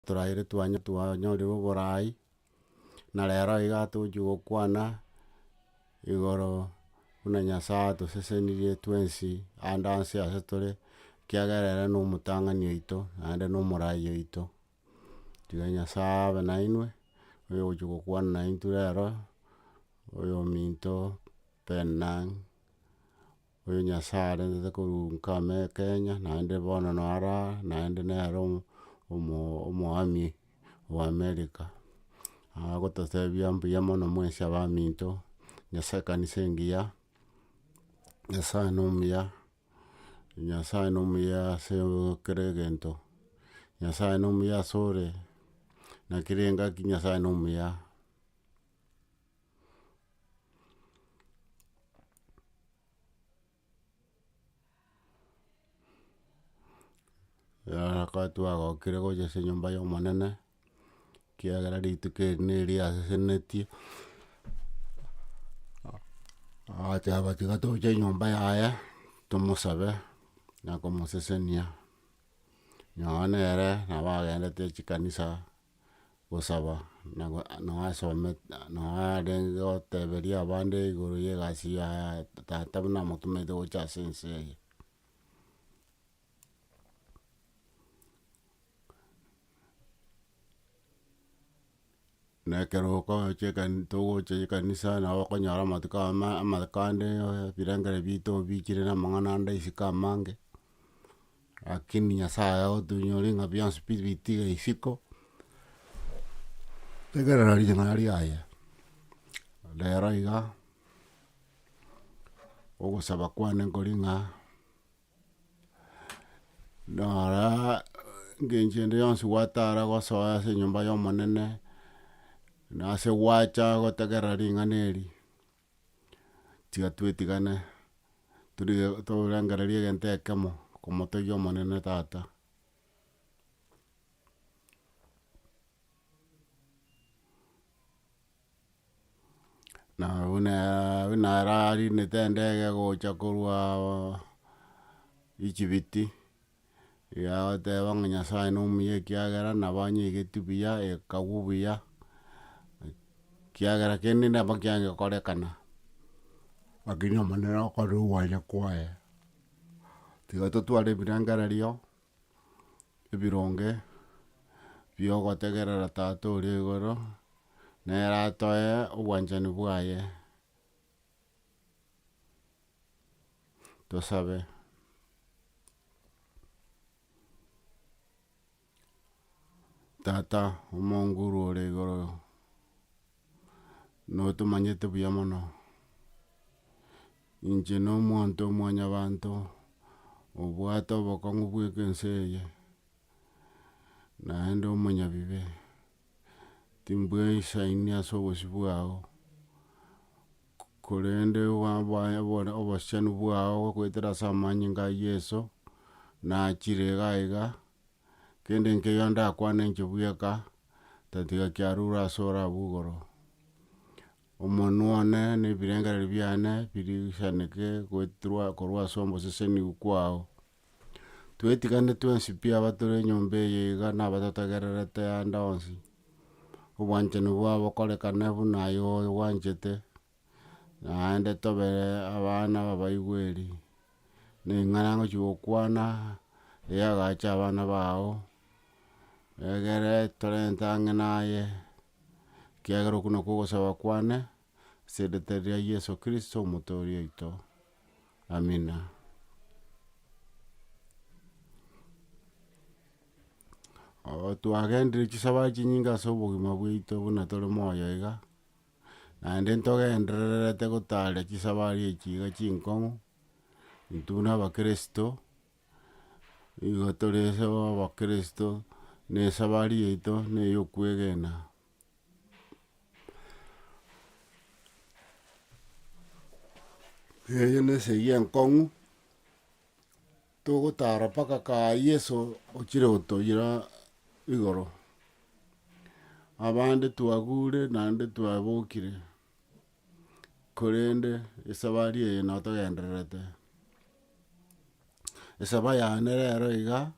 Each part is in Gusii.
Toraire twanya twanyorire oboraai, na rero iga tochia gokwana igoro buna Nyasaye atosesenirie twensi ande anse ase tore, ekiagera ere nomotang'ani oito, naende nomoraai oito. Tiga Nyasaye abe nainwe, oyogochia gokwana naintwe rero, oyominto, Penina. Oyo Nyasae arentete korwa nkame Kenya, naende bono no ara aa, naende nere omo- omo- omoami o America. Agototebia mbuya mono mwensi abaminto, Nyasae ekanisa engiya, Nyasae nomuya, Nyasae nomuya ase kera egento, Nyasae nomuya ase ore, naki rengaki Nyasae nomuya. Nyasae twagokire gocha ase enyomba y'omonene, ekiagera rituko eri neria asesenetie, agoteba tiga toche enyomba yaye, tomosabe na komosesenia, nonya nere nabo agendete chikanisa. gosaba, na go nao asome nao arenge goteberia abande igoro ya egasi ya tata buna amotometie gocha ase ense eye. na ekero okochi ekani togocha ekanisa nabo okonyora amatuko ama amakande ebirengera bito obichire na amang'ana ande isiko amange. Rakini Nyasae otoinyore ng'a bionsi pi bitige isiko, tegerera ring'ana riaye. Rero iga, ogosaba kwane nkori ng'a, noraa engencho ende yonsi gwatara gosoa ase enyomba ya Omonene, nase gwacha gotegerera ring'ana eri. tiga twetigane torengereria egento ekemo komotegia omonene tata. Na buna buna ararindete endege gocha korwa Echibiti. Yagoteba ng'a Nyasaye nomuya ekiagera nabo anyeigeti buya, ekagwa buya, ekiagera kende nabo kiangekorekana. Lakini Omonene okore ogwania kwaye, tiga totware ebirengererio ebironge biogotegerera Tata oria igoro, nere atoe obwanchani bwaye. Tosabe. Tata omonguru ore igoro, notomanyete buya mono, inche no omonto omwanyabanto, obwate obokong'u bweka ense eye, naende omonyabibe. timbwesaini ase obosio bwao, korende obosiani bwao goetera ase amanyinga a Yeso, nachire iga iga, kende nkeyo ndakwane inche bweka, tatiga kiarure ase ore abwo igoro. Omonwe one na ebirengereri biane birigisaneke goeterwa korwa ase oboseseniu kwao. Twetigane twensi pi abatore enyomba eye iga nabatotegererete ande onsi, obwanchani bwabo bokorekane buna aye obwanchete, naende tobe abana babaigweri, na eng'ana ngochi gokwana eyagacha abana bao, egere torente ang'e naye, ekiagera okwo nokwo ogosaba kwane. as'eritari ria Yeso Kristo Omotooria oito. Amina. Oo twagenderire chisabari chinyinge as'obogima bwaito buna tore moyo iga, naende ntogendererete gotaara chisabari echi iga chinkong'u, intwe buna abakristo, nigo tore as'abakristo, na esabari yaito na ey'okwegena. Eyio nesegi enkong'u, togotara mpaka kaye Yeso ochire gotoira igoro. Abande twagure naende twabokire. korende esabari eye no togendererete. Esaba yane rero iga,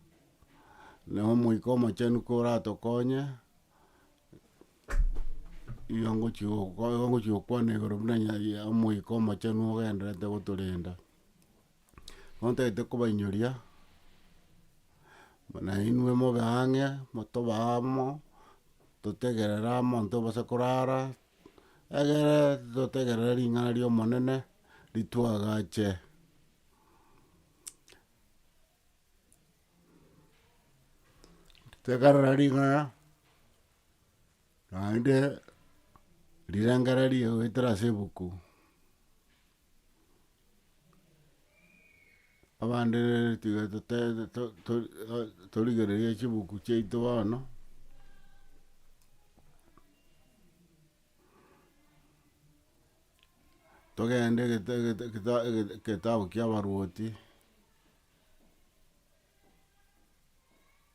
na omoika omochenu koratokonye, nigo ngochi gokwa nigo ngochi gokwana igoro buna nya ya omoika omochenu ogendererete gotorenda. Bono ntagete kobainyoria, buna inwe mobe ang'e, motobe amo, totegerere amo intwe base korara. Egere totegerere ring'ana ri'Omonene rituagache. Tegerera ring'ana naende rirengererio goetera ase ebuku. abande tiga tote- to- to- torigereria chibuku chiaito bono, togende gete- gete- geta- geta- getabu kiabaruoti.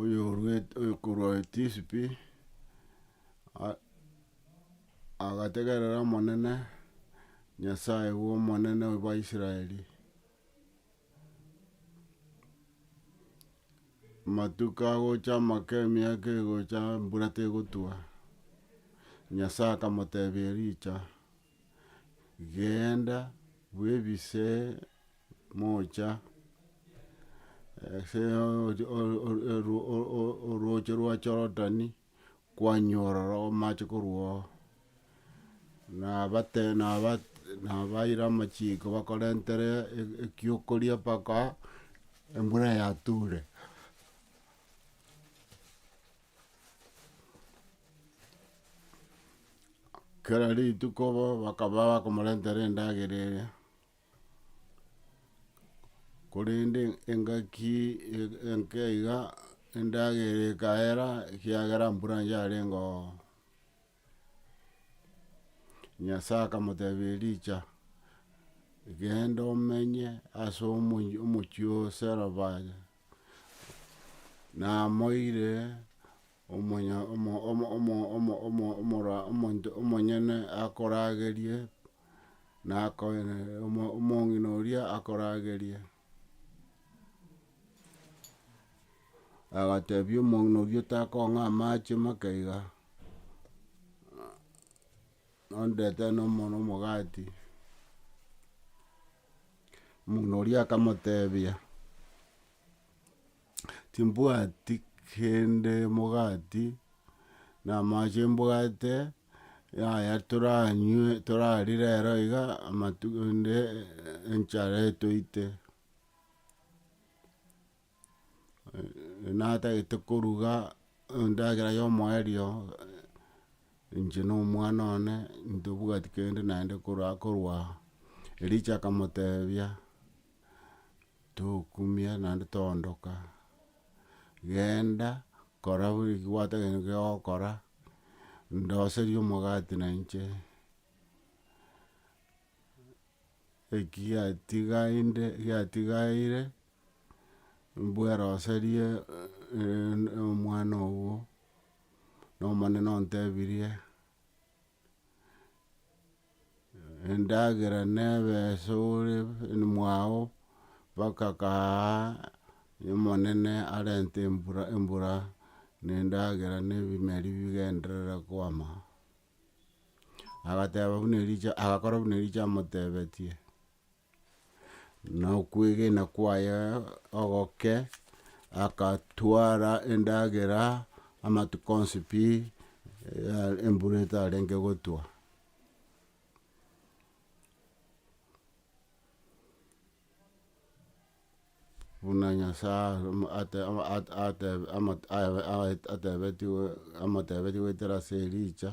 oyoruete oyokorwa etisipi a- agategerera omonene, Nyasaye bwa omonene bwa Israeli, amatuko agocha amake emiaka egocha embura tegotwa, Nyasaye akamotebia Elija. Genda bwebise mocha ase orooche rwa Jorodani, kwanyora ororo amache korwa ororo, nabaira amachiko bakorentere ekiokoria mpaka embura yature. Kera rituko bo bakaba bakomorentera endagera eria, korende engaki e- enke iga endagera ekaera ekiagera mbura yarengoo, Nyasae akamotebia Elija, genda omenye ase omo- omochie o Sarefati. Namoire omonto omonyene akoragerie, na omong'ina oria akoragerie. Agatebia omong'ina oria otakong'a amache make iga, nondetere nomogati. Omong'ina oria akamotebia, Timbwati kende mogati, na amache mbwate, yaya toranywe torarie rero iga, amatuko ende enchara etoite. natagete koruga endagera ya omoerio, inche na omwana one, ntobwati kende naende korwa korwa aa. Ericho akamotebia, tokumia naende toondoka, genda kora buna eki gwatagete nigo ogokora, ndoserie omogati na inche, eki giatigainde giatigaire. mbweroserie omwana ogo, na omonene ontebirie, endagera nebe ase ore mwao mpaka kaaaa omonene arente embura embura na endagera na ebimeri bigenderere kwama. Agateba buna Elisha agakora buna Elisha amotebetie. na okwegena kwaye ogoke, agatwara endagera amatuko onsi pi, embura etarenge gotwa. Buna Nyasae atebetigwe amotebetigwe goetera ase Elija.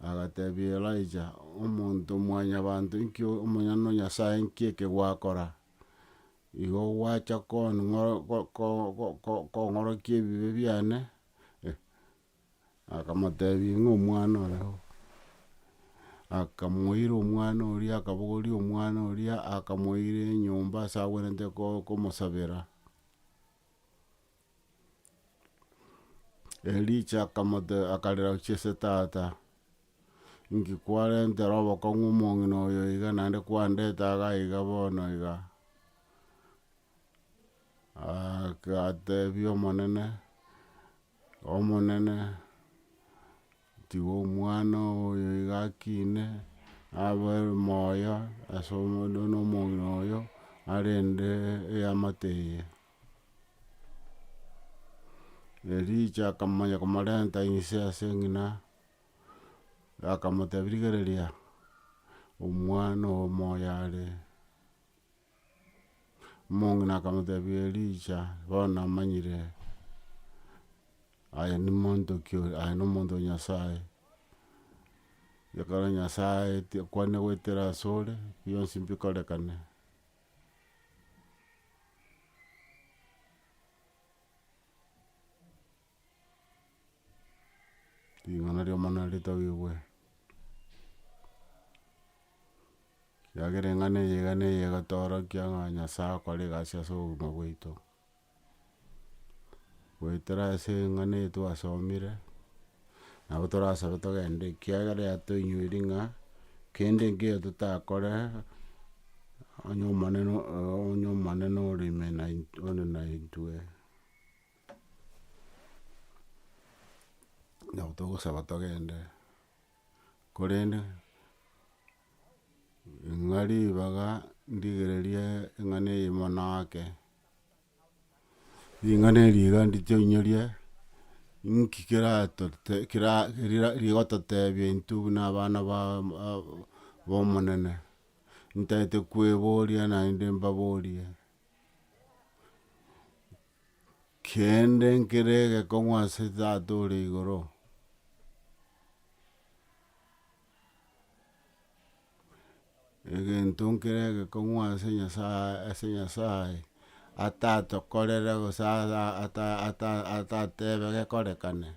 Agatebia Elija, Omonto mwanyabanto, inki Omonyene Nyasae inki eke gwakora? Igo gwacha kong'orokia ebibe biane? Akamotebia ng'a omwana ore oo. Akamoira omwana oria akabogoria omwana oria akamoira enyomba ase agwenerete komosabera. Elija akamotebia, akarera gochia ase tata, inki kwarentera obokong'u omong'ina oyo iga naende kwandete iga iga bono iga? Agatebia Omonene, Omonene, tiga omwana oyo iga akine, abe moyo ase omong'ina oyo arende eamate eye. Elija akamanya komorenta inse ase eng'ina, akamotebia rigereria omwana oo moyo are, omong'ina akamotebia elija bono namanyire aye nimonto ki oyo aye nomonto o nyasaye, ekero nyasaye aeti akwane goetera asore, bionsi mbikorekane. Ring'ana ri'omorembe naritabigwe, ekiagera eng'ana eye nigo egotorokia ng'a Nyasae akore egasi as'obogima bwaito. goetera ase eng'ana eye twasomire, nabo torasabe togende ekiagera yatoinyoiri ng'a, kende nkeiyo totakore, onye omonene onye omonene ore ime naint ore naintwe. Nabo togosaba togende, korende ng'a ribaga ndigererie eng'ana eye mono ake. Ring'ana eri iga nditoinyoria, inki keratote kera rira rigototebia intwe buna abana ba b'omonene, ntaete kweboria naende mbaborie, kende nkere egekong'u ase tata ore igoro. egento nkere egekong'u ase Nyasaye ase Nyasaye, atatokorere gose ara ata- ata- atatebe gekorekane.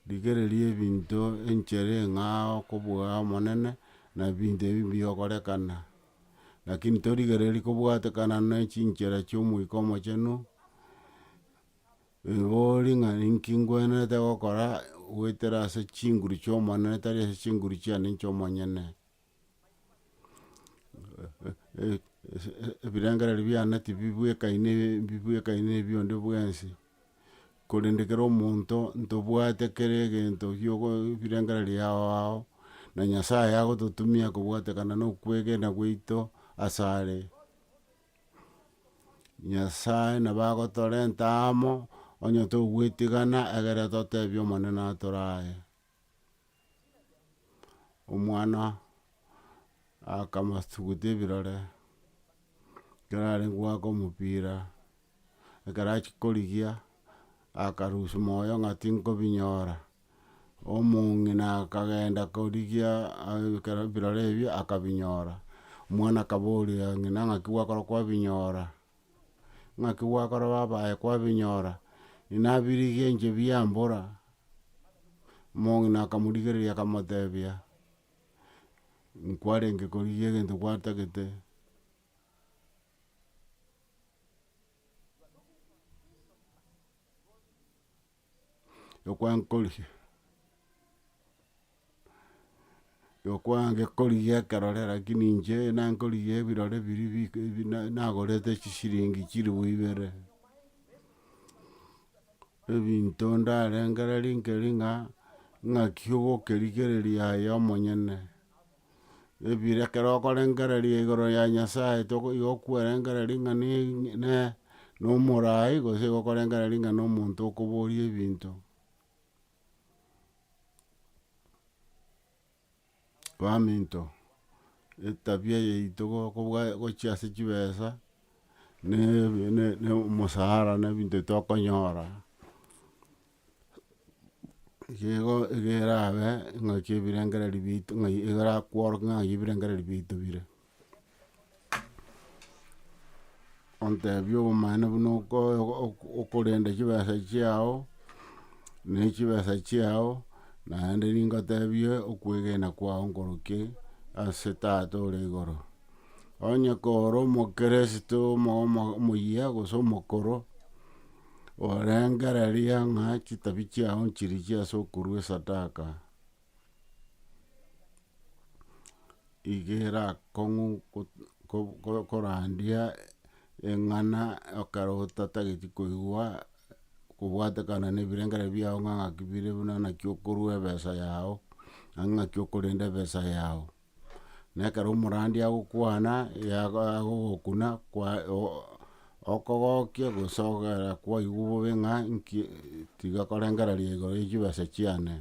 Rigereria ebinto enchere eng'ao okobua omonene, na ebinto ebi mbigokorekana, lakini torigereria kobwatekana ne chinchera chia Omoika Omochenu. Rigori ng'a ninki ngwenerete gokora goetera ase chinguru chi'Omonene, tari ase chinguru chiane inche omonyene. Ebirengererio biane tibibwekaine mbibwekaine ebi onde bwensi, korende kera omonto ntobwate kera egento giogo ebirengererio yao ao, na Nyasaye agototumia kobwatekana na okwegena gwaito asare. Nyasae nabo agotorenta amo, onye togwetigana egere totebie Omonene atore aye. Omwana akamasuguta ebirore, ekero arenge goaka omopira, ekero achia korigia, akarusia moyo ng'a tinkobinyora. omong'ina akagenda korigia ekero ebirore ebio akabinyora, omwana akaboria ng'ina ng'aki gwakora kwabinyora? Ng'aki gwakora babaye kwabinyora? Ninabirigie inche biambora, omong'ina akamorigereria akamotebia, nkwarenge korigia egento gwatagete, yokwankorigi yokwangekorigia ekerore rakini inche nankorigia ebirore biri bi bi na nagorete chisiringi chilifu ibere, ebinto ndarengere rike ring'a ng'aki ogokerigereria aye omonyene. ebire ekero okorengereria igoro ya Nyasae toko igo okwerengereria ng'a ne ne na omoraai gose igo okorengereria ng'a na omonto okoboria ebinto. baminto, etabia yaito gokobwa gochia ase chibesa na na omosara na ebinto bitokonyora. Igo igo erabe ingaki ebirengereri bito ng'a igo erakworoke ng'a ng'ai ebirengereri bito bire. ontebie obomaene buna okoe oko- okorenda chibesa chiao, ne chibesa chiao, naende ningotebie okwegena kwao nkorokie ase tata ore igoro. Onye koro omokeresito omo- omo- omoyia gose omokoro. Orengereria ng'a chitabi chiao nchirichia ase okorua esadaka, iga erakong'u korandia eng'ana ekero otatageti koigwa kobwatekana na ebirengereri biao ng'a ng'aki bire buna naki okorua ebesa yao, naki okorenda ebesa yao. na ekero omorandia agokwana agogokuna okogokia gose ogera kwaigwa bobe ng'a nki tiga korengereria igoro ya chibesa chiane.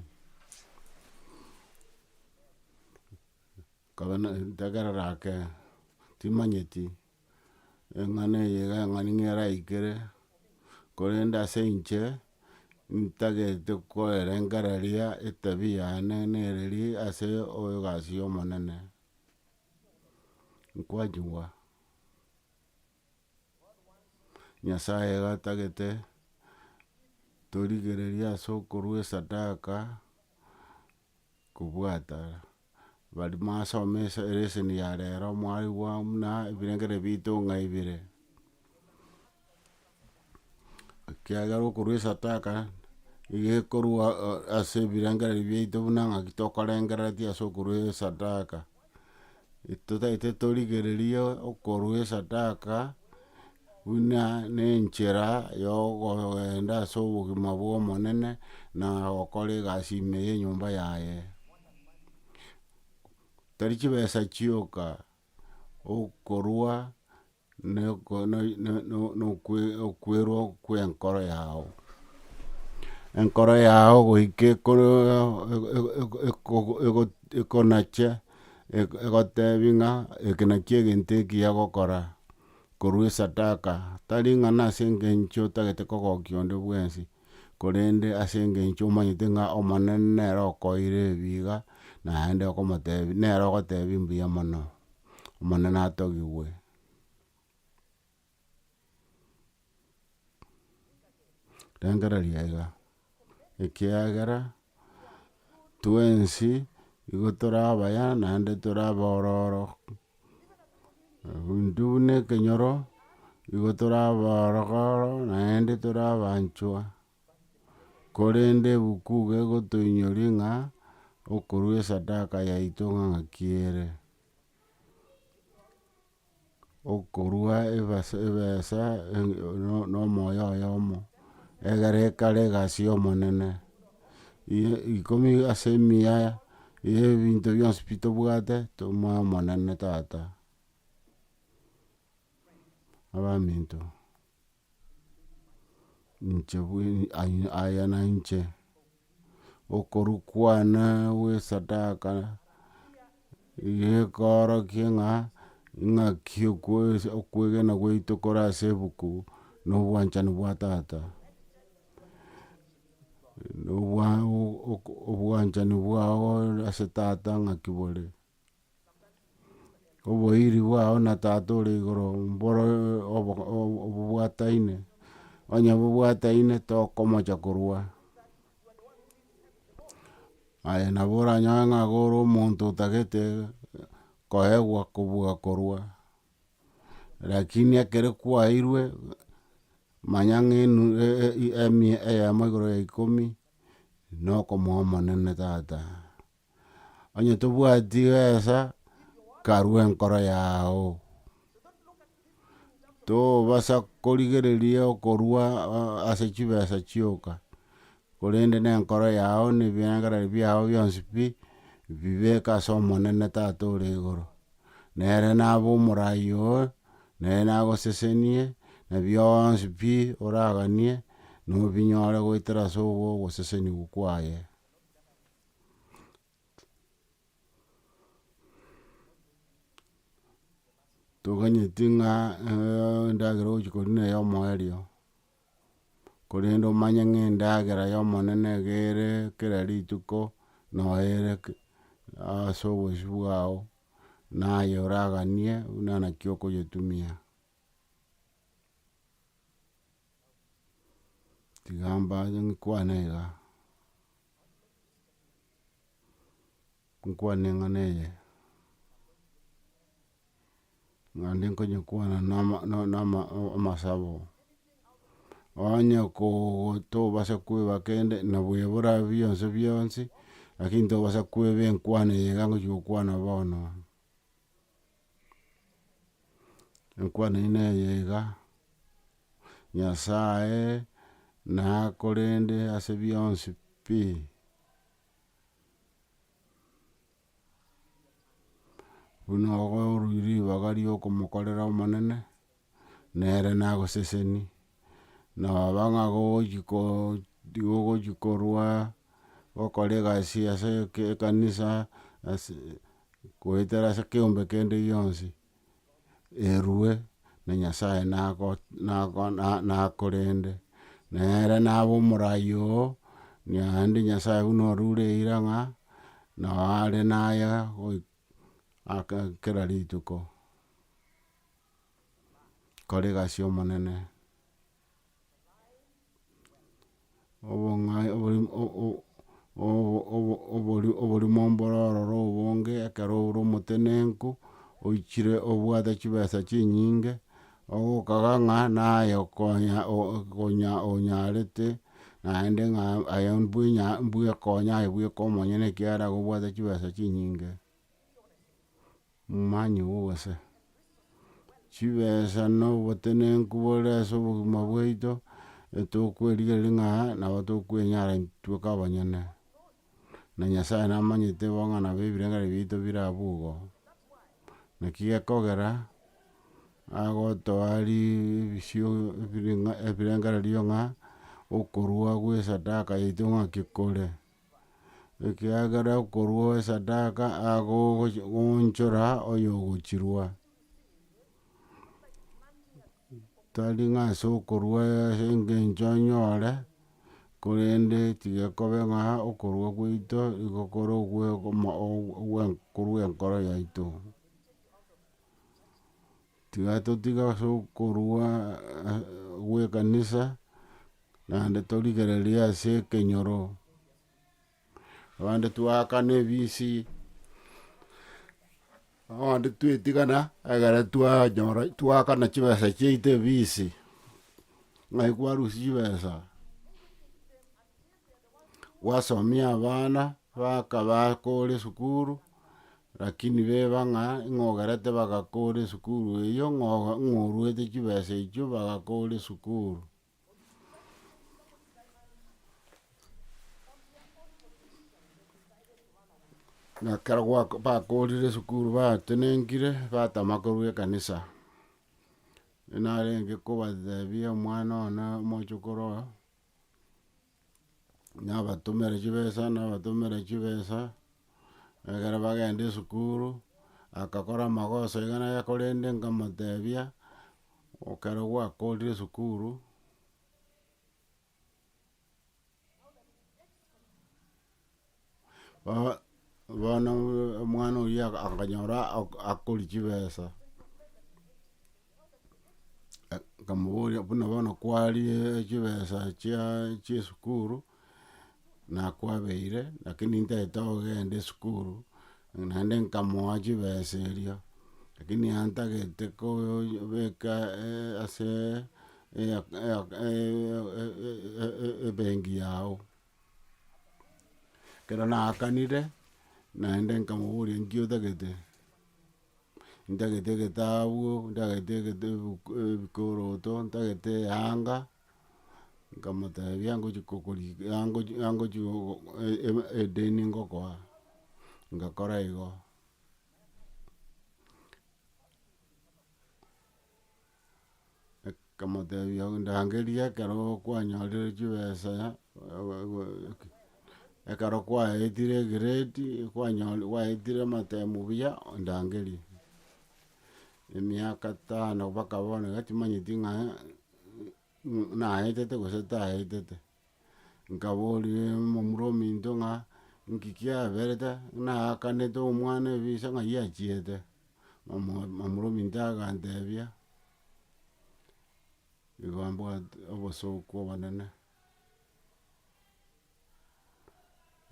Nkabe na ntegerera ake timanyeti. eng'ana eye iga eng'ani ng'a eraikere, korende ase inche, ntagete koerengereria etabia yane nereri ase egasi ya omonene, nkwachigwa. Nyasaye iga atagete torigereria ase okorwa esadaka. kobwata bari masoma esa elesson ya rero mwarigwa buna ebirengeri bito ng'a ibere. Ekiagera okorwa esataka, iga ekorwa ase ebirengeri biaito buna ng'aki tokorengereretie ase okorwa esadaka. totaete torigereria okorua esadaka, buna nenchera ya okogenda ase obogima bwa Omonene, na gokora egasi ime ya enyomba yaye. Tari chibesa chioka, okorua. nokwerwa kwenkoro yao, enkoro yao goika ekonache egotebi ng'a eke nakio egento ekiya gokora, korwa esadaka, tari ng'a nase engencho otagete kogokia onde bwensi, korende ase engencho omanyete ng'a omonene nere okoeire ebi iga, naende okomotebi nere ogotebi mbuya mono. Omonene atogigwe. Rengereria aiga, ekiagera twensi nigo tore abaya naende tore abororo, intwe buna ekenyoro nigo tore abororo naende tore abanchwa. Korende ebuku gegotoinyoria ng'a okorua esadaka yaito ng'aki ere, okorua ebesa na omoyo oyomo, egere ekare egasi y'Omonene. Ikomi ase mia ye ebinto bionsi pi tobwate tomoe Omonene tata, abaminto. Inche bweri aya nainche, okorwa kwane gwesadaka, gekorokia ng'a ing'aki okwegena gwaito kore ase ebuku no obwanchani bwa tata. Obwanchani bwao ase tata ng'aki bore. Oboiri bwao na Tata ore igoro mboro obobwataine, onye bobwataine tokomocha korwa. Aye nabo oranyore ng'a iga ore omonto otagete koegwa kobua korwa, lakini ekere kwairwe, manya ng'a enu emia eyemo igoro ya ikomi, nokomoa omonene tata. Onye tobwati gesa karue enkoro yao tobasa korigereria okorua ase chibesa chioka korende ne enkoro yao ne ebirengererio biao bionsi pi bibeke ase omonene tata ore igoro nere nabe omoraai oo nere nagosesenie na bionsi pi oraganie nobinyore goetera ase ogosesenigwa kwaye. toganyeti ng'a endagera ogochia koria neye omoerio, korende omanye ng'a endagera ya omonene nigo ere kera rituko, noyo ere ase obosio bwao, naye oraganie buna naki okonyetumia. Tiga mbache nkwane iga, nkwane eng'ana eye, naende nkonyekwana na ama na ama amasabo, onye koo tobasa koeba kende nabo ebora bionsi bionsi, lakini tobasa koeba enkwana eye iga ngochi gokwana bono. Enkwana eyio neye iga, Nyasaye nakorende ase bionsi pi. Buna okoruirie ribaga riokomokorera Omonene. nere nagoseseni, noba ng'a gogochi ko gogochi korwa, gokora egasi ase eke ekanisa, ase goetera ase ekeombe kende gionsi, erwe na nyasae nago nago na nakorende. Nere naba omorai oo, naende nyasae buna orure eira ng'a, nao are naye goika aka kera rituko. kore egasi y'omonene, obong'ai oborimo mboro ororo obonge, ekero ore omotenenku, oichire obwate chibesa chinyinge, ogokaga ng'a naye okonya onya onyarete naende ng'a aye mbwenya mbwekonya aye bweka omonyene ekiagera nigo obwate chibesa chinyinge. Momanyi obo gose? Chibesa na obotenenku bore ase obogima bwaito etokwerigereria ng'a nabo tokwenyara intweka abanyene. Na Nyasae namanyete bo ng'a nabo ebirengererio biaito bire abwo igo. Naki gekogera agotoa ribisio ebirengererio ng'a okorua gwesadaka yaito ng'aki kore. ekiagera okorua owesadaka agogoonchora oyogochirua, tari ng'a ase okorua ase engencho onyore, korende tigekobe ng'a okorua gwaito nigo kore ogwe korwa enkoro yaito. Tigatotiga as'okorua gw'ekanisa, naende torigererie as'ekenyoro, abande twaakana ebisi, abande twetigana ekero twanyora twaakana chibesa chiaito ebisi, ng'ai kwarusia chibesa. gwasomia abana bakaba kore esukuru, rakini beba ng'a ng'a ogerete bagakore esukuru eyio ng'a oga ng'a oruete chibesa echio bagakore esukuru. Na ekero gwako bakorire esukuru batenenkire, batama korwa ekanisa, narenge kobatebia omwana one omochokoro oyo, nabatomere chibesa nabatomere chibesa, ekero bagenda esukuru, agakora amagoso iga na iga korende nkamotebia, ekero gwakorire esukuru. Bo- bono omwana oyio aka- akanyora ak- akori chibesa, nkamoboria buna bono kwarie chibesa chia chia esukuru, nakwabeire lakini ntaete ogenda esukuru, naende nkamoa chibesa erio, lakini yantagete kobeka ase ebengi yao. Ekero naakanire, naende nkamoboria nki otagete, ntagete egetabu, ntagete egete ebuku ebikoroto, ntagete eyanga, nkamotebia ngochia kokori angochi angochi gogo edeni ngokoa, ngakora igo. Akamotebia ndangerie ekero kwanyorire chibesa ekero kwaetire egrade kwanyore kwaetire amatemu buya ondangerie. Emiaka tano mpaka bono iga timanyeti ng'a naetete gose taetete. Nkaboria omomura ominto ng'a, Inki kiaberete? Ng'a naakanete omwana ebise ng'ai achiete? Omo- omomura ominto agantebia, Igo mbwate obosooku obonene,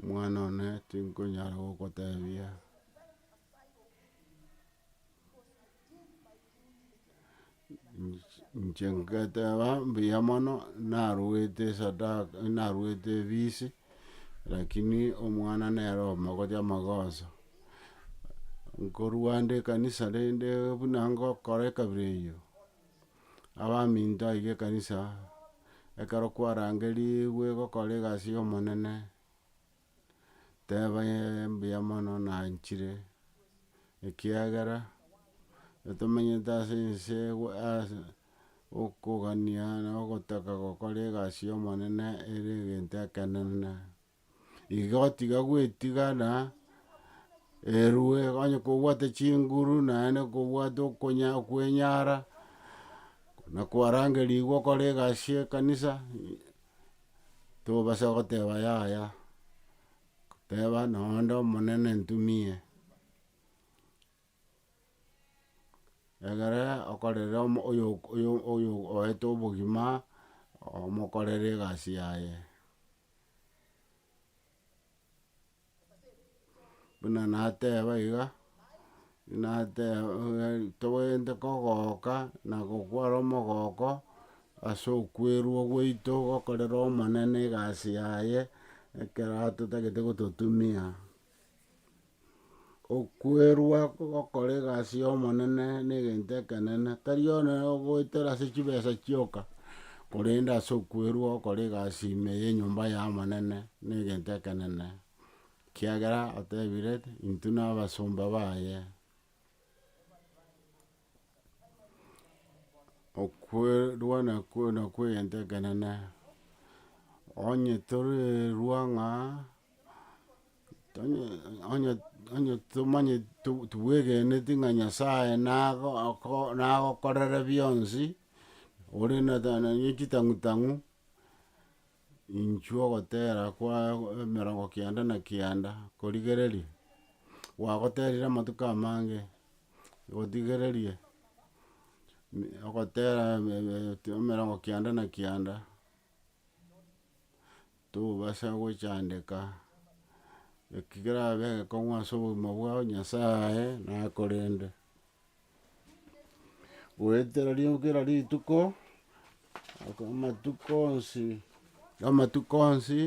omwana one tinkonyara gokotebia. Inche ngeteba mbuya mono narwete esadaka narwete efisi, rakini omwana nere omogocha amagoso, nkorwa ande ekanisa rende buna ngokora ekabira eyio, abaminto aike ekanisa, ekero kwarangerigwe gokora egasi y'omonene. Teba ee mbuya mono nanchire, ekiagera tomenyete ase ense ewe ase okogania na ogotaka gokora egasi y'omonene ere egento ekenene. Igo tiga gwetiga na erwe onye kobwate chinguru naende kobwate okonya kwenyara, na kwarangerigwa okore egasi y'ekanisa. tobasa goteba yaya, teba nonya onde omonene ntumie, egere okorere omo oyo- oyo- oyo oete obogima, omokorere egasi yaye. buna nateba iga, nateba tobwenerete kogoka na gokwara omogoko, ase okwerwa gwaito gokorera omonene egasi yaye, ekero atotagete gototumia. Okwerwa gokora egasi y'Omonene negento ekenene, tari one ogoetera ase chibesa chioka, korende ase okwerwa gokora egasi ime y'enyomba y'Omonene negento ekenene, ekiagera otebire, intwe nabasomba baye. Okwerwa nakwo nakwo egento ekenene, onye torerwa ng'a. Onye- onye- onye tomanye to- tobwegeneti ng'a nyasaye nago oko nagokorere bionsi, ore na nonye chitang'u tang'u, inchuo ogotera kwa emerongo kianda na kianda korigereria, gwagoterire amatuko amange, gotigereria mi- ogotera eme- eme- emerongo kianda na kianda. Tobasa gochandeka eki kerabe egekong'u ase obogima bwao Nyasae nakorende. Goetera ri- kera rituko, amatuko onsi, amatuko onsi.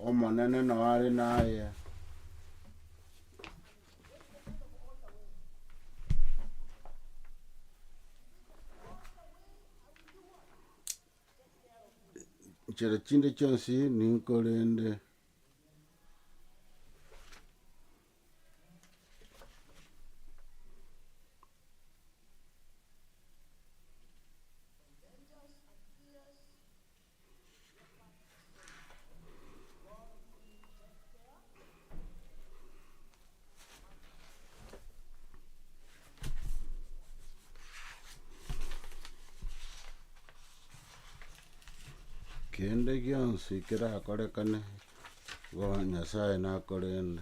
Omonene nao are naye. Nchera chinde chionsi ninkorende. Kende gionsi kerakorekane igo Nyasaye nakorende.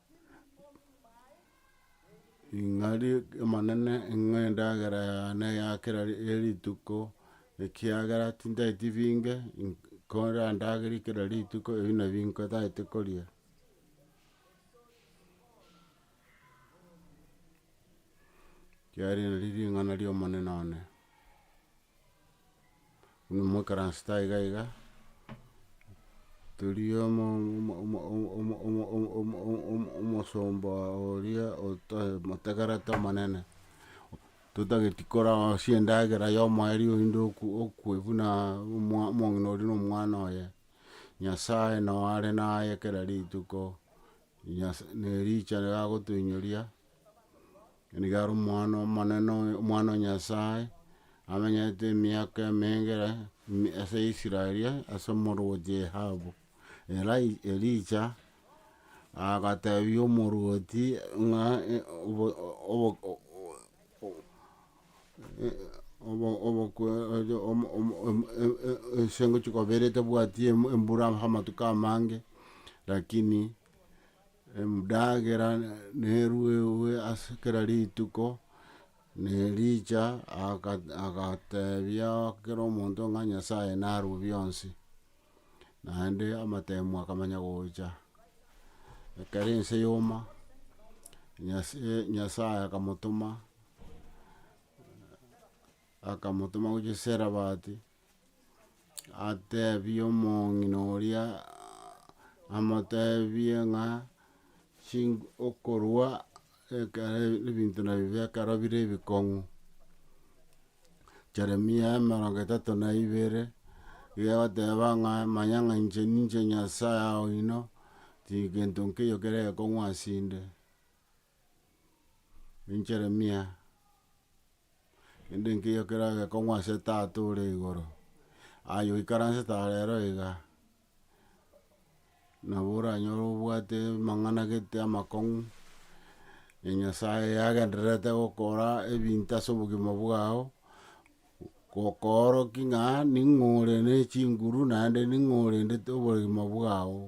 Ing'ari Omonene ing'o endagera yane ya kera rituko, ekiagera tinteti binge, korandagere kera rituko ebi nabi nkotaete koria. Kiagera eri nari ring'ana ria Omonene one. Buna mwaikaransete aiga iga, toria omo omosomba oria otoe motegerete omonene, totageti korasie endagera ya omoerio oyinde oku okwe buna omwa omong'ina oria na omwana oye, Nyasae nao are naye kera rituko, Nyasa nerichara agotoinyoria. Nigo are omwana omonene oyo, omwana o Nyasae, amenyete emiaka emenge ase Israel, ase omorwoti Ahabu. Elai- Elija agatebia omorwoti ng'a obo- obo- obo- obokwe omo- omo- omo- e- e- ense ngochia kobera etabwati embura amatuko amange, lakini. Emdagera neruegwe ase kera rituko, na Elija aga- agatebia kera omonto ng'a Nyasaye narue bionsi, naende amatemu akamanya gocha. Ekero ense yoma, Nyase- Nyasaye akamotoma akamotoma gochia Sarephat. Atebie omong'ina oria, amotebie ng'a chinko okorwa ekero ebinto nabibe ekero bire ebikong'u, Jeremia emerongo etato na ibere, iga egoteba ng'a manya ng'a inche ninche Nyasaye oino, tigento nkeiyo kere ekong'u asinde, in Jeremia. Kende nkeiyo keragekong'u ase Tata ore igoro, aye oikaransete are ero iga, nabo oranyore obwate amang'ana gete amakong'u, na Nyasaye agendererete gokora ebinto ase obogima bwao, gokoorokia ng'a ning'o ore ne chinguru naende ning'o orendete oboremo bwao,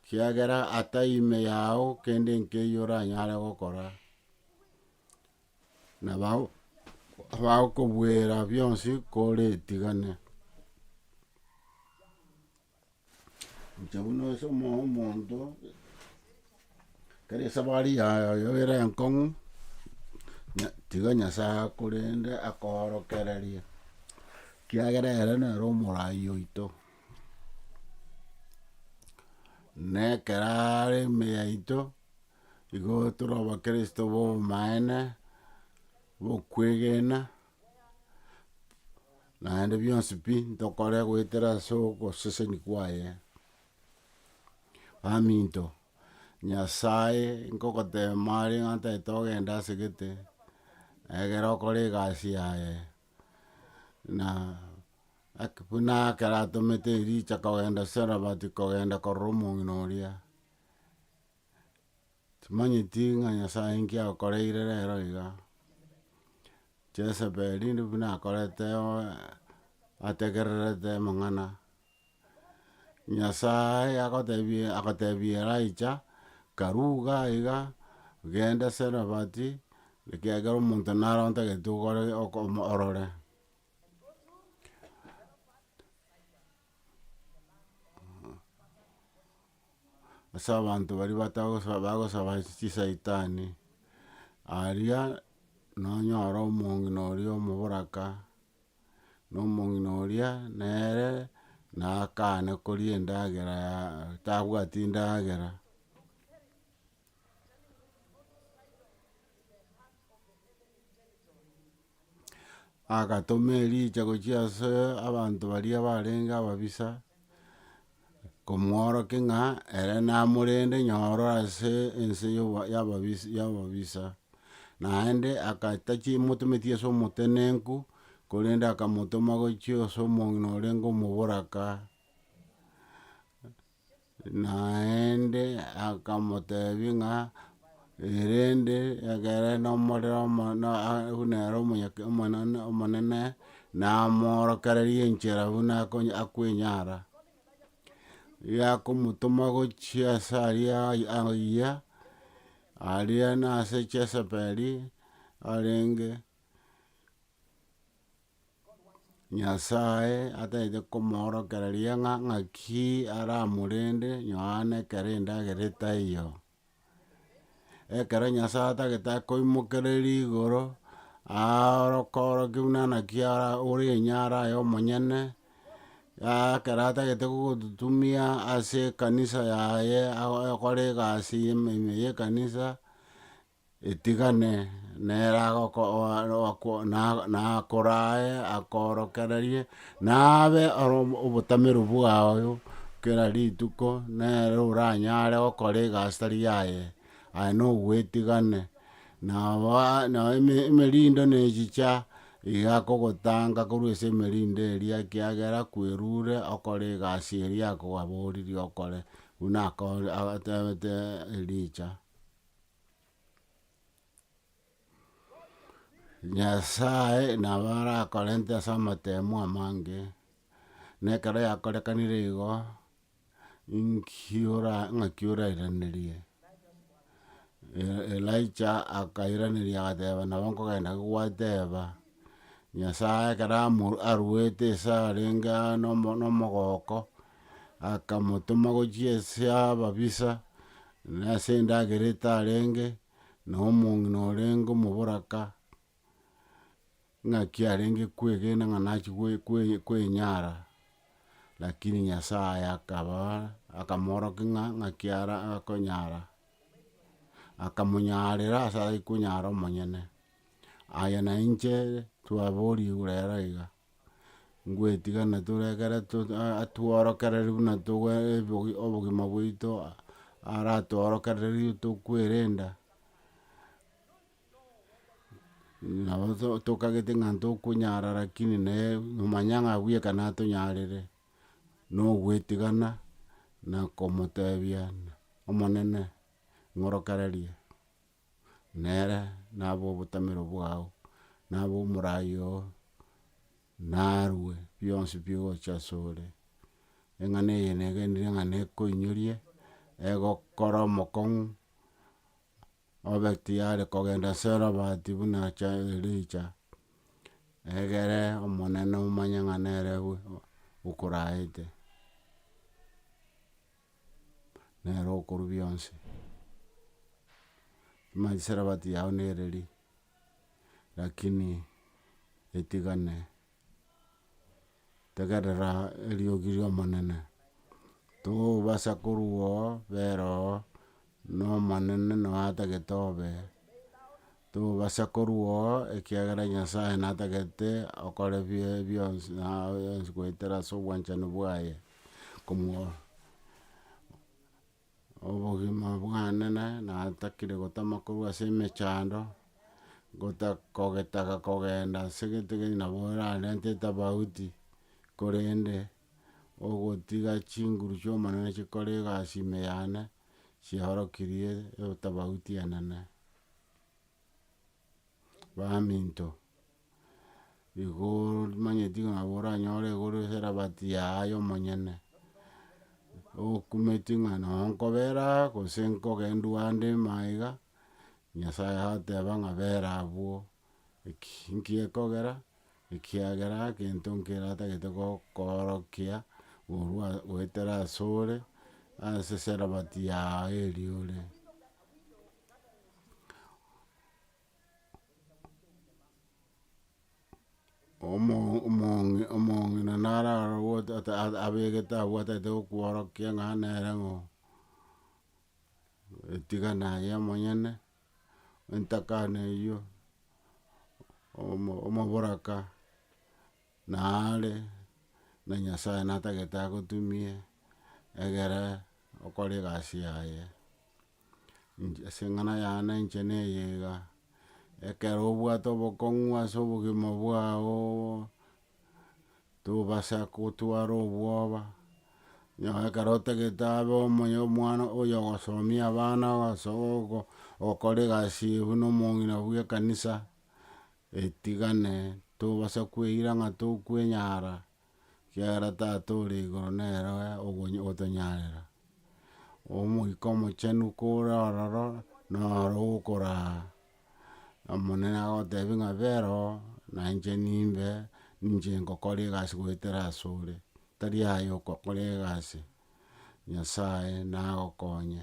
kiagera atai ime yao kende nkeiyo oranyare gokora. na bago- bagokobuera bionsi koretigane. Inche buna ase omo- omonto, ekero esabari yago ere enkong'u, nya- tiga nyasae akorende akoorokererie, ekiagera ere nere omoraai oito, na ekero are ime yaito. Igo tore abakristo b'obomaene, bokwegena, naende bionsi pi ntokore goetera ase ogoseseni kwaye. Baminto, Nyasae nkogoteema are ng'a ntagete ogenda ase gete, egere okore egasi yaye, na ake buna ekero atomete Elija kogenda Sarephat kogenda korora omong'ina oria. Timanyeti ng'a Nyasae inki agokoreire rero iga, Jesebeli ndi buna akorete oe ategererete amang'ana, Nyasae agotebie agotebia Elijah, karuga iga, genda Sarephat, ekiagera omonto nare ontagete ogore oko orore. ase abanto baria batagosa bagosaba ase chisaitani, aria nonyore omong'ina oria omoboraka, na omong'ina oria nere nakane koria endagera ya tabwati ndagera. agatoma ericha gochia ase abanto baria barenge ababisa, komworoki ng'a ere namorende nyoro ase ense ya obo ya ababisa ya ababisa, naende agatachi motometi ase omotenenku, korende akamotoma gochia ase omong'ina orenge omoboraka. Naende akamotebia ng'a, erende ekere nomorero omo- na a- buna ere omonyake omonene omonene, namoorokereria enchera buna akonye akwenyara. Riria akomotoma gochia ase aria ai- aiyia, aria nase Chesebeli arenge. Nyasae atagete komoorokera riang'a ng'aki aramorende Yohana ekero endagera etaiyo. Ekero Nyasae atagete akoimokereria igoro, aoroke oroke buna naki ara- ore enye are aye omonyene, ekero atagete gogototumia ase ekanisa yaye ago- agokora egasi ime ime ya ekanisa. etigane nere agoko- o- o- ako- na- nakorae akoorokererie, nabe ore omo- obotameru bwago kera rituko, nere oranyare gokora egasi tari yaye, aye nogoetigane. Nabo a- nabo eme- emerindo na echicha iga akogotanga korwa ase emerindo eria ekiagera kwerure okore egasi eria akogaboririe okore, buna ako- a- atebete Elija. Nyasae nabo arakorente ase amatemo amange, na ekero yakorekanire igo, inki ora ng'aki orairanerie? E- Elijah akairaneria agateba nabo nkogenda gogwateba, Nyasae ekero amo aruete esarenge aa nomo- nomogooko. akamotoma gochia ase ababisa, na ase endagera etarenge, na omong'ina orenge omoboraka, ng'aki arenge kwegena ng'a nachia gwe- gwe- gwenyara, lakini Nyasaye akaba akamoorokia ng'a ng'aki ara akonyara, akamonyarera ase aye konyara omonyene. Aye nainche twaborigwe rero iga. ngwetigana tore ekero to- a- atworokereri buna togo ebogi obogima bwaito aratworokererie tokwerenda, nabo to tokagete ng'a ntokonyara rakini naye nomanya ng'a abuya ekero natonyarire, na ogwetigana, na komotebia omonene ng'orokererie. nere nabo obotamero bwao, nabo omorai oo, narue bionsi bigocha ase ore, eng'ana eye negenire ng'a nekoinyoria, egokora omokong'u, obe tiyari kogenda ase robati buna cha Elija, egere omonene omanye ng'a nere okoraete. nere okorwa bionsi. Manye sarabati yao nere ri, rakini etigane tegerera eriogi riomonene, tobasa korwa oo bera oo Nomonene nao atagete obe, tobasa korua oo, ekiagera Nyasae natagete okore bie bionsi na aye yonsi goetera ase obwanchani bwaye, komwa obogima bwane na natakire gotama korwa ase emechando, gota kogetaga kogenda ase gete gete nabo orarente etafauti, korende, ogotiga chinguru chi'omonene chikore egasi ime yane. chiaorokirie etofauti enene. Baminto, igo omanyeti ng'a nabo oranyore igoro eserabati yaye omonyene, okumeti ng'a noo nkobera aa gose nkogendu ande imaiga, Nyasaye agoteba ng'a bera abwo. Eki nkekogera, ekiagera egento nkeratagete gokoorokia korwa goetera asore, ase eserabati yao eria ore. Omo- omong'ina omong'ina naro aroro goeta ata abegete abwatagete gokworokia ng'a nere ng'o. etigana aye omonyene, entakana eyio, omo- omoboraka nare, na nyasaye natagete agotumie, egere okore egasi yaye. Inche ase eng'ana yane inche na eye iga, ekero obwate obokong'u ase obogima bwao, tobasa gotwara obwoba, nonya ekero otagete abe omonye omwana oyo ogosomia abana ase ogo- ogokora egasi eye buna omong'ina bw'ekanisa, etigane tobasa kweira ng'a tokwenyara, ekiagera tata ore igoro nere ogo- otonyarera. Omoika omochenu kore ororo, noro okoraa. Omonene agotebia ng'a bera oo, na inche nimbe, ninche ngokora egasi goetera asore, tari aye okokora egasi, Nyasaye nagokonye,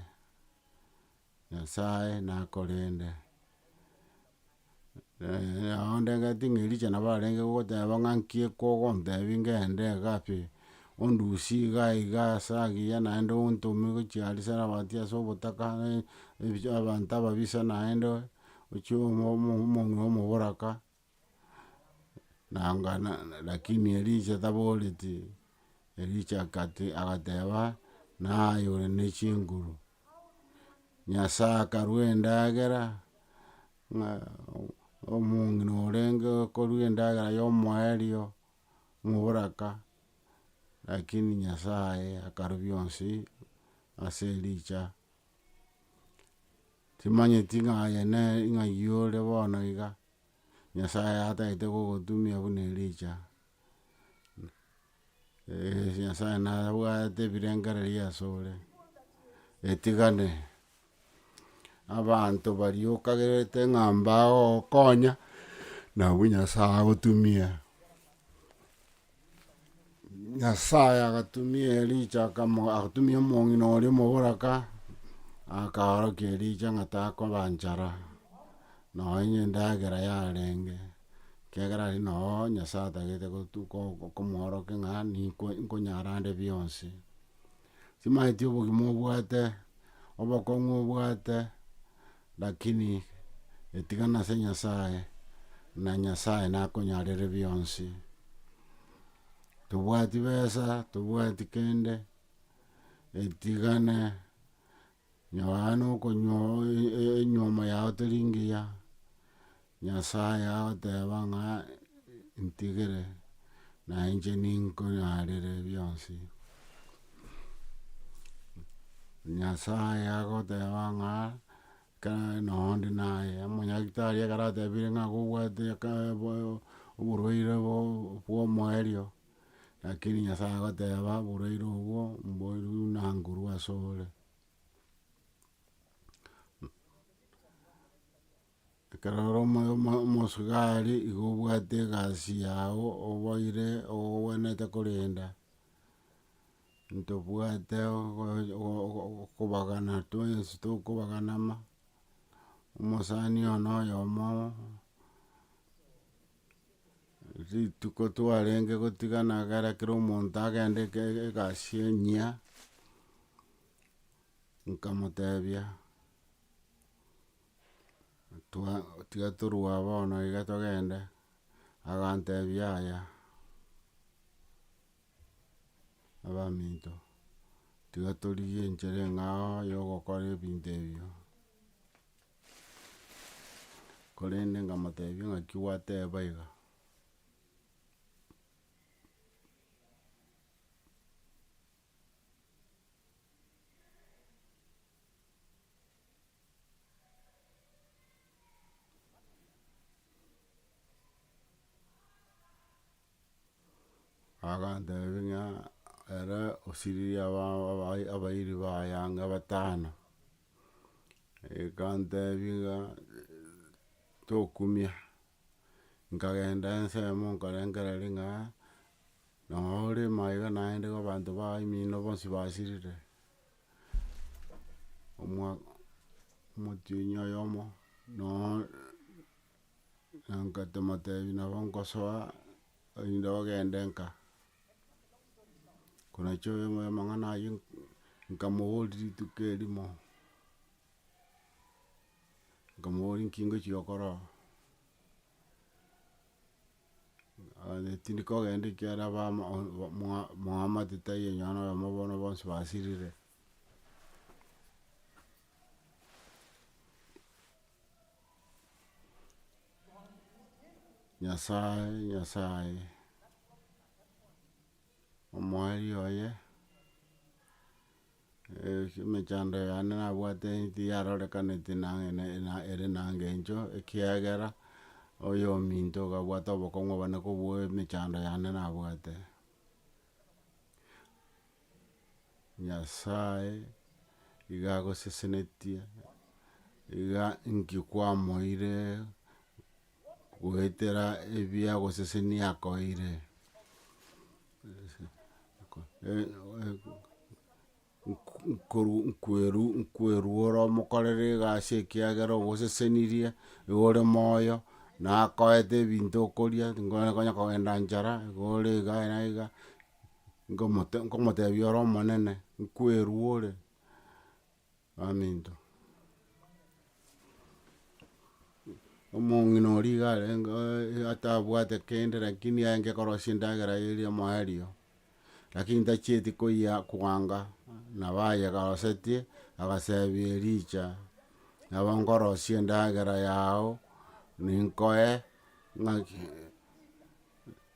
Nyasaye nakorende. nabo ndagete ng'a Elija nabo arenge gogoteba ng'a nki ekogontebia ngende iga pi, Ondusie iga iga ase agiya naende ontome gochia aria Sarafati ase obotaka, abanto ababisa naende, ochie omonwe omoboraka, nanga lakini Elisha taboreti, Elisha agateba, naye ore ne chinguru, Nyasaye akarua endagera, ng'a omong'ina orenge okorua endagera y'omoerio. moboraka, rakini Nyasaye akarobia onsi ase ericha, timanyeti ng'a aye nere ng'a yore bono iga, Nyasaye atagete gogotumia buna ericha, Nyasaye nabwate ebirengererio asore, etigane. Abanto baria okagerete ng'a mbagogokonya, nabwo Nyasae agotumia. Nyasae agatumia Elija akamo agatumia omong'ina oria omoboraka, akaorokia Elija ng'a takoba nchara, nonye endagera yarenge, ekiagera aria noo Nyasae atagete gotu ko- ko- komworokia ng'a ninko nkonyara nde bionsi. Timaeti obogima obwate, obokong'u obwate, lakini etigana ase Nyasaye, na Nyasaye nakonyarere bionsi. Tobwati besa, tobwati kende, etigana. Nonya okonywa enywomo yao teri ngiya, Nyasae agoteba ng'a ntigere, na inche ninkonyaarere bionsi. Nyasae agoteba ng'a ekero noo onde naye, omonyagetari ekero atebire ng'a nigo obwate oborwaire bwa omoerio. Rakini Nyasae agoteba, Boraire obwo mboirwe buna nguru asore. Ekero ore omo- omo- omosubari igo obwate egasi yao oboire ogwenerete korenda, ntobwate ogo- ogo- okobagana twensi tokobaganama, omosani oyomo noyomo. Rituko twarenge gotigana egere kera omonto agende eke- egasi enyia, nkamotebia, twa- tiga torue aba bono iga togende, agantebia yaya, abaminto, tiga torigie enchera eng'ao yogokora ebinto ebio. Korende nkamotebia ng'aki gwateba iga, agantebia ng'a ere osiririe abana abairi ba ayanga batano. Ekantebia ng'a tokumia, nkagenda ensemo nkarengereria ng'a nonya orema iga naende iga abanto baye mino bonsi basirire, omwa- omotienyi oyomo nonya na nkamotebi nabo nkosoa erinde ogende nka. Konacha oyo oyo amang'ana aywo nkamoboria rituko erimo, nkamoboria nki ngochia gokora oo, aye tindi kogenda ekiagera abamo mwa mwamate taiyo onye nonye oyomo bono bonsi basirire. Nyasae, Nyasae, omoeeri oye, emechando yane nabwate eti yarorekaneti nang'e ne- na ere na engencho, ekiagera oyo ominto okabwata obokong'u obane kobua emechando yane nabwate. Nyasae iga agosesenetie, iga inki kwamoeire goetera ebiagosesenia akoeire nkoru- nkweru nkweruora omokorere egasi ekiagera ogosesenirie, igo ore moyo, nakoete ebinto okoria, tikonya kogenda nchara, igo ore iga na iga. nkomote nkomotebia ore omonene, nkwerua ore, baminto. Omong'ina oria iga arenge oe atabwate kende lakini aenge korosia endagera eye eri omoerio, lakini ntachieti koyia koanga, nabo aye garosetie, agasebia Elija, nabo nkorosia endagera yao, ninkoe ng'aki.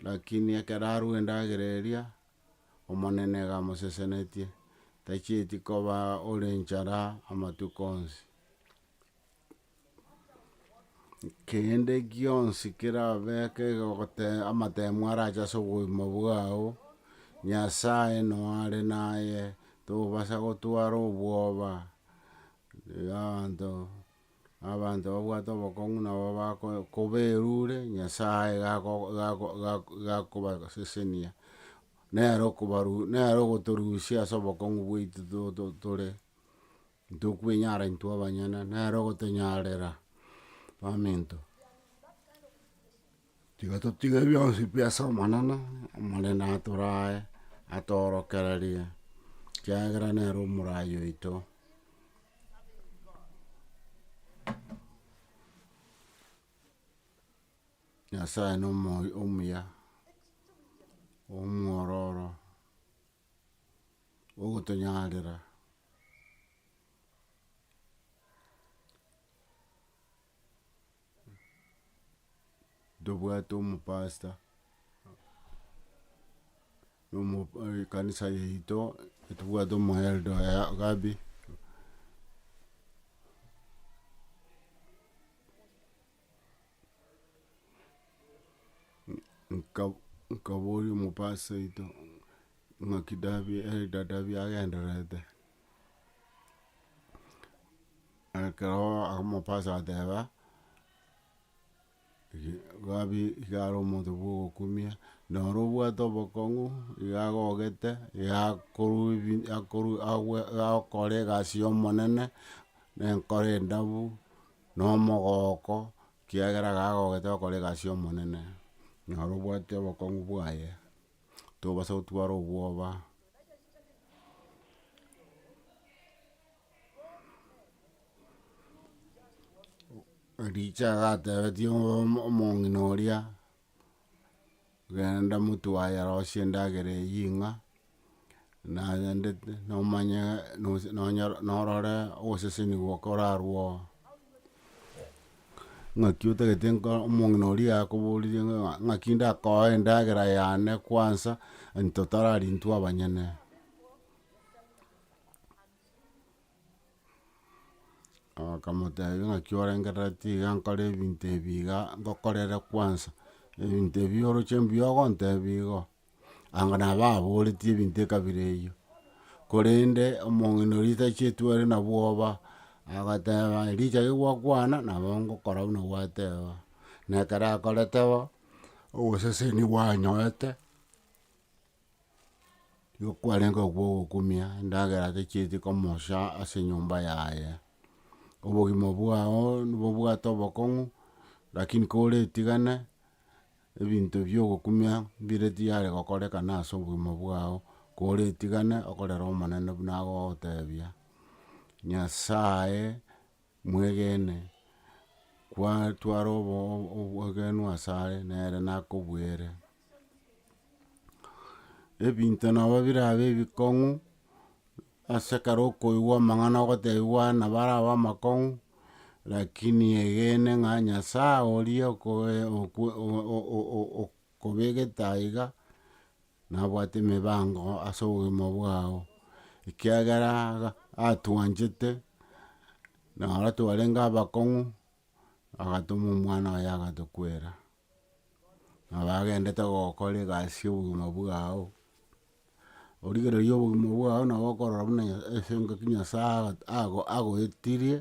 Lakini ekero arue endagera eria, Omonene igamosesenetie, tachieti koba ore enchara amatuko onsi. Kende gionsi kerabeke gote amatemo arache ase obogima bwao, Nyasaye noyo are naye, tobasa gotwara obwoba, abanto. Na abanto babwate obokong'u nabo bako- koberure, Nyasae gako- gako- gako- gakobasesenia, nere okobaru nere ogotorusia ase obokong'u bwaito to- to- tore, ntokwenyara intwe abanyene, nere ogotonyarera, baminto. Tiga totige bionsi pi ase Omonene, Omonene atorae, atoorokererie, ekiagera nere omoraai oito. Nyasae na omo- omuya, omwororo, ogotonyarera, ntobwate omopasta, ekanisa yaito ntobwate omoelda oye Gabi, nka- nkaboria omopasta oito ng'aki Dabi elda Dabi agendererete. Ekero akamopasa agateba, Gabi iga are omonto bwa ogokumia, noro obwate obokong'u, iga agogete, iga akorwa ebi akoru agwe agokora egasi ya omonene, na enkoro endabu, na omogooko, ekiagera iga agogete gokora egasi ya omonene, noro obwate obokong'u bwaye, tobasa gotwara obwoba. Ericho agatebetia omo- omong'ina oria, genda motwaye arosie endagera eyio ing'a, naendete nomanye nosi nonyoro norore oboseseni bokorarwo oo. Ng'aki otagete nko omong'ina oria akoboreria ng'a ng'aki ndakoe endagera yane kwansa, anto tarari intwe abanyene. Akamotebia naki orengereretie iga nkore ebinto ebi iga, ngokorere kwansa, ebinto ebi oroche mbuya ogontebia igo, anga nabo ababoretie ebinto ekabira eyio, korende omong'ina oria otacheti ore na bwoba, agoteba erichia rigokwana nabo ngokora buna gwateba, na ekero akorete bo, oboseseni bwanyorete. Nigo kwarenge okwo ogokumia endagera atachieti komosha ase enyomba yaye. Obogima bwao nibobwate obokong'u, lakini koretigane, ebinto bia ogokumia mbire tiyare gokorekana ase obogima bwao, koretigane okorere omonene buna agogotebia, Nyasaye Mwegene, kwatwara obogenu asare, nere nakobuere. Ebinto nabo birabe ebikong'u, ase ekero okoigwa amang'ana ogotebiwa nabo arabe amakong'u, rakini egene ng'a Nyasae oria okoe okwe o- o- o- o- o. Kobegete aiga, nabwate emebango ase obogima bwao, ekiagera iga atwanchete, na aro twarenge abakong'u, agatoma omwana oye agatokwera, nabo agendete gokora egasi ya obogima bwao, origereria obogima bwao nabo okorora buna nya ase engaki nyasae aga- ago agoetirie,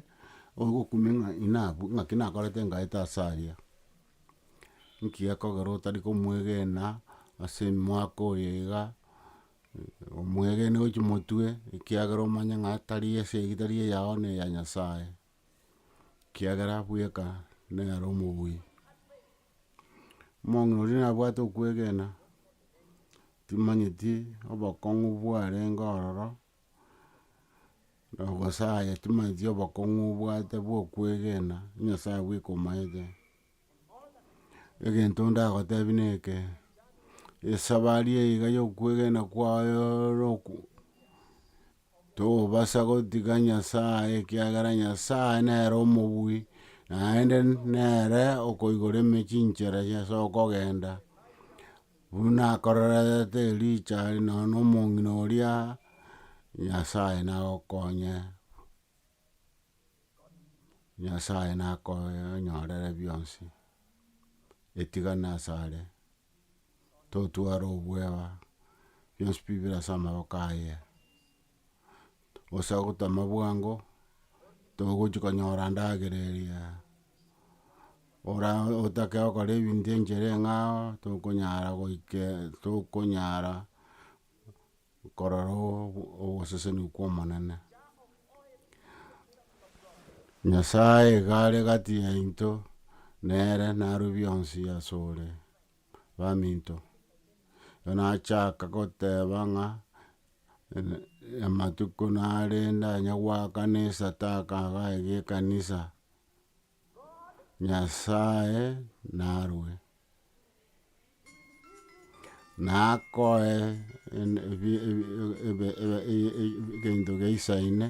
ogokumia ng'a inabwo ng'aki nakorete ngaete ase aria. Nki gekogera otari komwegena ase emwaka oyo iga, omwegene gochia omotwe, ekiagera omanye ng'a tari ase eyio tari eyao ne eya Nyasaye, ekiagera bweka nere omobui. Omong'ina oria nabwate okwegena, timanyeti obokong'u bwarenge ororo. Nogosaya chimanyetie obokong'u obwate bwa okwegena, Nyasaye bweka omaete. Egento ndagotebie neke, esabari eye iga ya okwegena kwaye roku tobasa gotiga Nyasaye ekiagera Nyasaye nere omobui, naende nere okoigora eme chinchera chiaye ase okogenda, Buna akorerete Elija are nonya nomong'ina oria, Nyasae nagokonye, Nyasae nakonyorere bionsi, etigana asare, totware obwoba, bionsi pi bire ase amaboko aye. gose ogotama bwango, togochi konyora ndagera eria, ora otake okora ebinto enchere ng'ao, tokonyara goike tokonyara korora ogoseseni kwa omonene. Nyasaye iga are gati yaito, nere naro bionsi asore. baminto. Ekero nachaka goteba ng'a amatuko narende onye goakana esataka iga iga ekanisa, Nyasaye narue, nakoe egento geisaine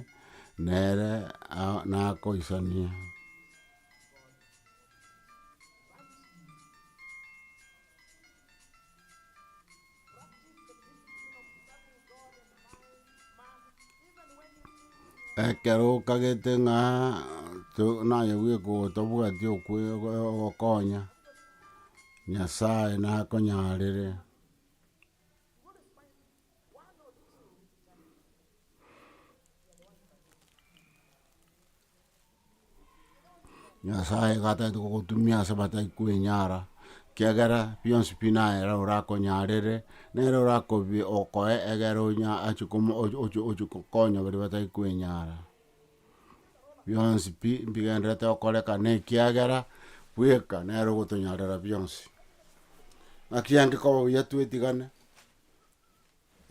nere nakoisania. Ekero okagete ng'a to- naye bweka otobwati okwe- ogo- ogokonya, Nyasaye nakonyarere. Nyasaye iga atagete gogotumia ase batari kwenyara, ekiagera bionsi pi naye nere oranyarere, nere orakobi okoe egere onya ache komo oche oche oche konya baria batari kwenyara. Bionsi pi mbigenderete okoreka na ekiagera bweka nere ogotonyarera bionsi. Naki angikoba buya twetigane,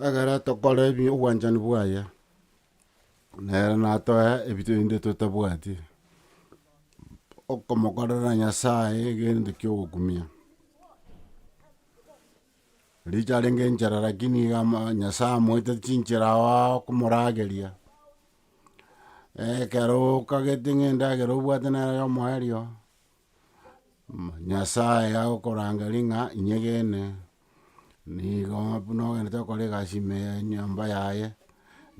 Ekero tokora ebi obwanchani bwaye, nere natoe ebi rende totabwati, okomokorera Nyasaye egento kia ogokumia. Riria arenge enchera lakini iga ama- Nyasaye amoete chinchera aao komorageria, ekero okagete ng'a endagera obwate nere omoerio. Nyasae agokorangeri ng'a inyegene, nigo buna ogenderete gokora egasi ime ya enyomba yaye,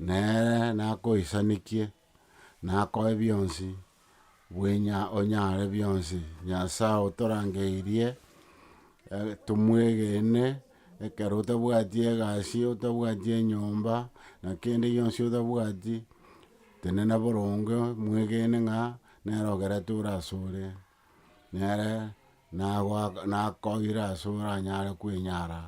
nere nakoisanekie, nakoe bionsi, bwenya onyare bionsi. Nyasae otorangeirie, tomwegene, ekero otabwati egasi, otabwati enyomba, na kende gionsi otabwati, tenena boronge, mwegene ng'a Nere ogereture asore, nere nakoire ase oranyare kwenyara.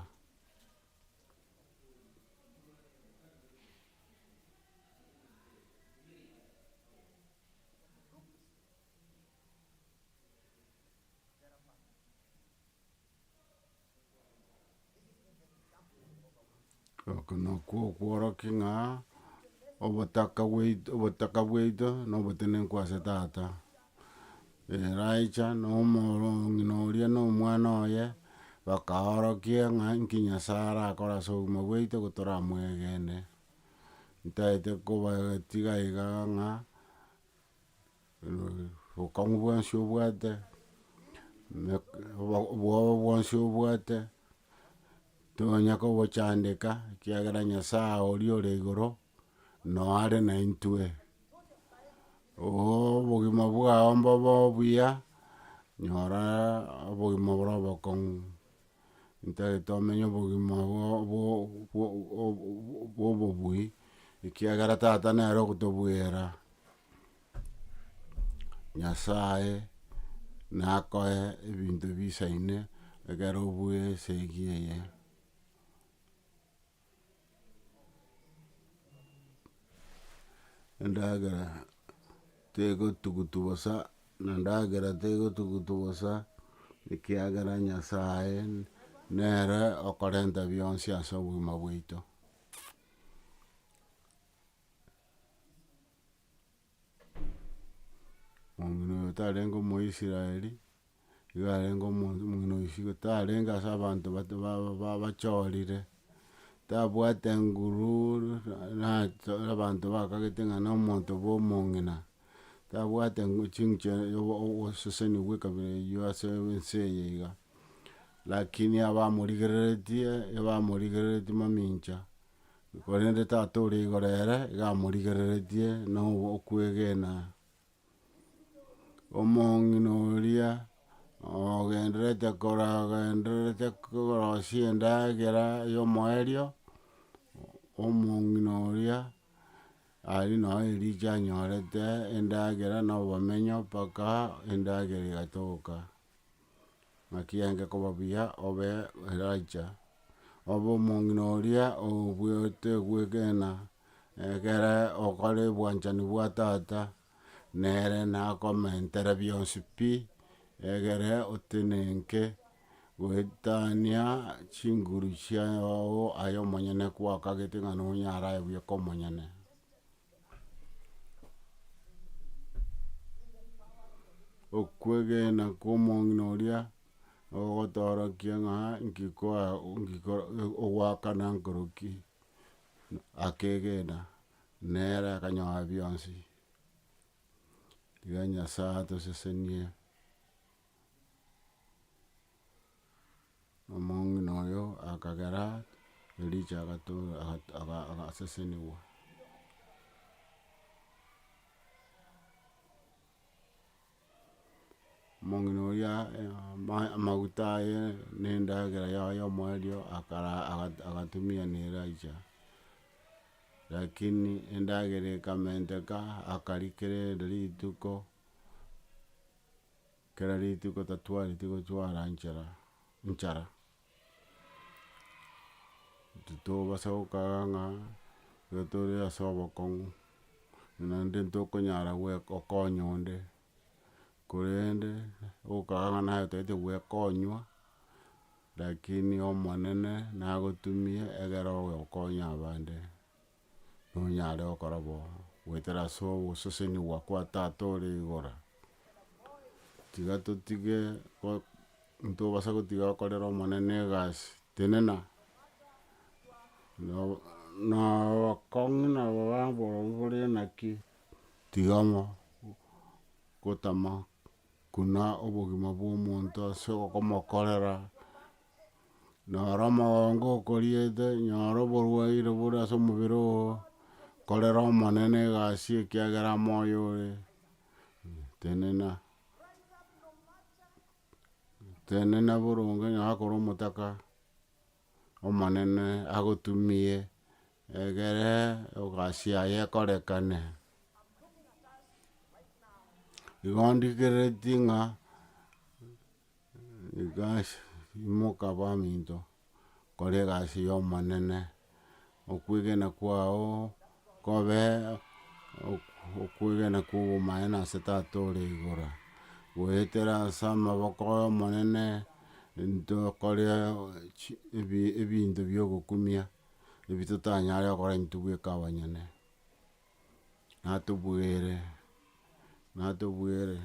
Oko nakwo okworokia ng'a obotaka bwaito obotaka bwaito na obotenenku ase tata, eracha na omoro ng'ina oria na omwana oye, bakaorokia ng'a nki nyasae arakore ase obogima bwaito igo toramwegene, ntaete kobatiga iga ng'a. obokong'u bwonsi obwate, obwoba bwonsi obwate, tonya kobochandeka, ekiagera Nyasaye oria ore igoro, noyo are naintwe. obogima bwao mbobe obuya, nyora obogima obore obokong'u, ntari tomenye obogima bwo- bwo- bwo- bwo- bwo obobui, ekiagera tata nere ogotobwera. Nyasae nakoe ebinto bisaine ekero obwoe esegi eye. Endagera tegotugutu bosa, na endagera tegotugutu bosa, ekiagera Nyasae nere okorenta bionsi ase obogima bwaito. Omino oyo otarenge omoisraeli, igo arenge omonto omino oyo isiko tarenge ase abanto bato baba ba bachorire, tabwate nguru nato abanto bakagete ng'a na omonto bwa omong'ina, tabwate ngu chinche obo oboseseni bwa ekabira eyio ase ense eye iga. Lakini abamorigereretie, ebamorigereretie mamincha. Korende Tata ore igoro ere iga amorigereretie na okwegena. Omong'ina oria ogendererete koragendererete korosia endagera ya omoerio, omong'ina oria aria nao erichia anyorete endagera na obomenyo mpaka endagera egatoka. ng'a ki'enge koba buya obe Elija, obe omong'ina oria obuete gwegena, egere okore obwanchani bwa tata nere nakomentere bionsi pi, egere otenenke goetania chinguru chiago aye omonyene kwakagete ng'a nonyare aye bweka omonyene. Okwegena kw'omong'ina oria nogotoorokia ng'a nki koa nki koro ogwakana nkoroki, akegena nere akanyora bionsi, iga Nyasae atosesenie. Omong'ina oyo akagera Elija agato- aga- aga agasesenigwa. Omong'ina oria ama- amaguta aye na endagera yaye ya omoerio akara aga- agatumia na Elija, rakini endagera ekamenteka akarikera erinde rituko. Kera rituko tatwareti gochwara nchera, nchara. Titobasa gokaga ng'a igo tore ase obokong'u, buna inde ntokonyara goe gokonya onde, korende gokaga ng'a naye otagete goekonywa, lakini Omonene nagotumie egere oye okonya abande. nonyare gokora bo, goetera ase ogosesenigwa kwa Tata ore igoro. Tiga totige go- ntobasa gotiga gokorera Omonene egasi, tenena no- nobokong'u na obobe borobwo bore naki, tiga mo- gotama Buna obogima bw'omonto ase okomokorera, nyora omogongo okoriete, nyora oborwaire bore ase omobere oo, korera Omonene egasi ekiagera amo oyo ore, tenena, tenena boronge, nyora kore omotaka. Omonene agotumie, egere egasi yaye ekorekane. Igo ndikereti ng'a imoka baminto, kore egasi y'Omonene. Okwegena kwao kobe okwegena kw'obomanene ase Tata ore igoro. Goetera ase amaboko ay'Omonene ntokore ebinto bi'ogokumia, ebi totanyare gokora intwe bweka abanyene. natobwere, natobwere,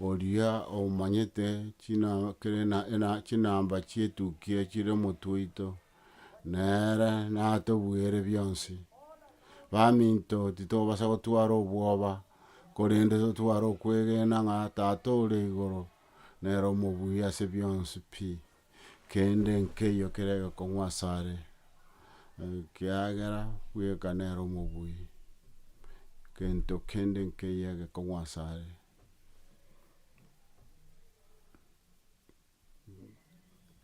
oria omanyete china kere na ena chinamba chietuki echio chire omotwe oito, nere natobwere bionsi, baminto titobasa gotwara obwoba, korende totware okwegena ng'a tata ore igoro nere omobuya ase bionsi pi. kende nkeiyo kere gekong'u asare, ekiagera bweka nere omobui, gento kende nkeiyo egekong'u asare.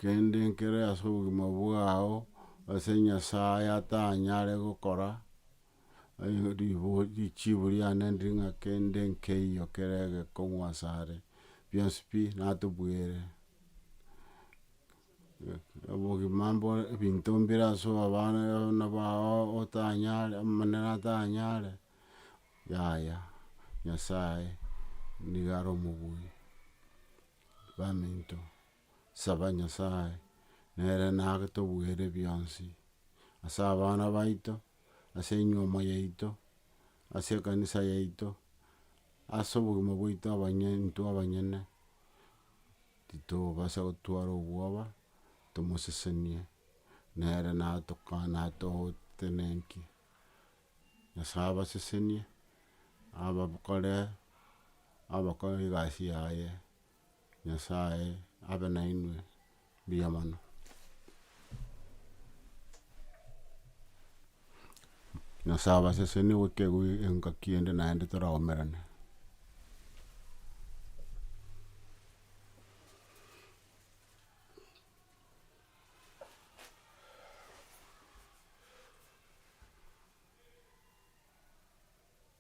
Kende nkere ase obogima bwao ase Nyasaye atanyare gokora. richibu riane ndiri ng'a kende nkeiyo kere egekong'u asare, bionsi pi natobwere. Obogima mbore ebinto mbire ase abana abana bao otanyare omonene atanyare, yaya Nyasaye niga are omobui baminto. saba Nyasae, nere nagetobuere bionsi, ase abana baito, ase enyuomo yaito, ase ekanisa yaito, ase obogima bwaito abanye intwe abanyene, titobasa gotwara obwoba, tomosesenie, nere natoka natogotenenkie. Nyasae abasesenie, abakore abakore egasi yaye, Nyasae abe nainwe mbuya mono. Nyasae abasesenie gotegwa engaki ende naende toraomerane.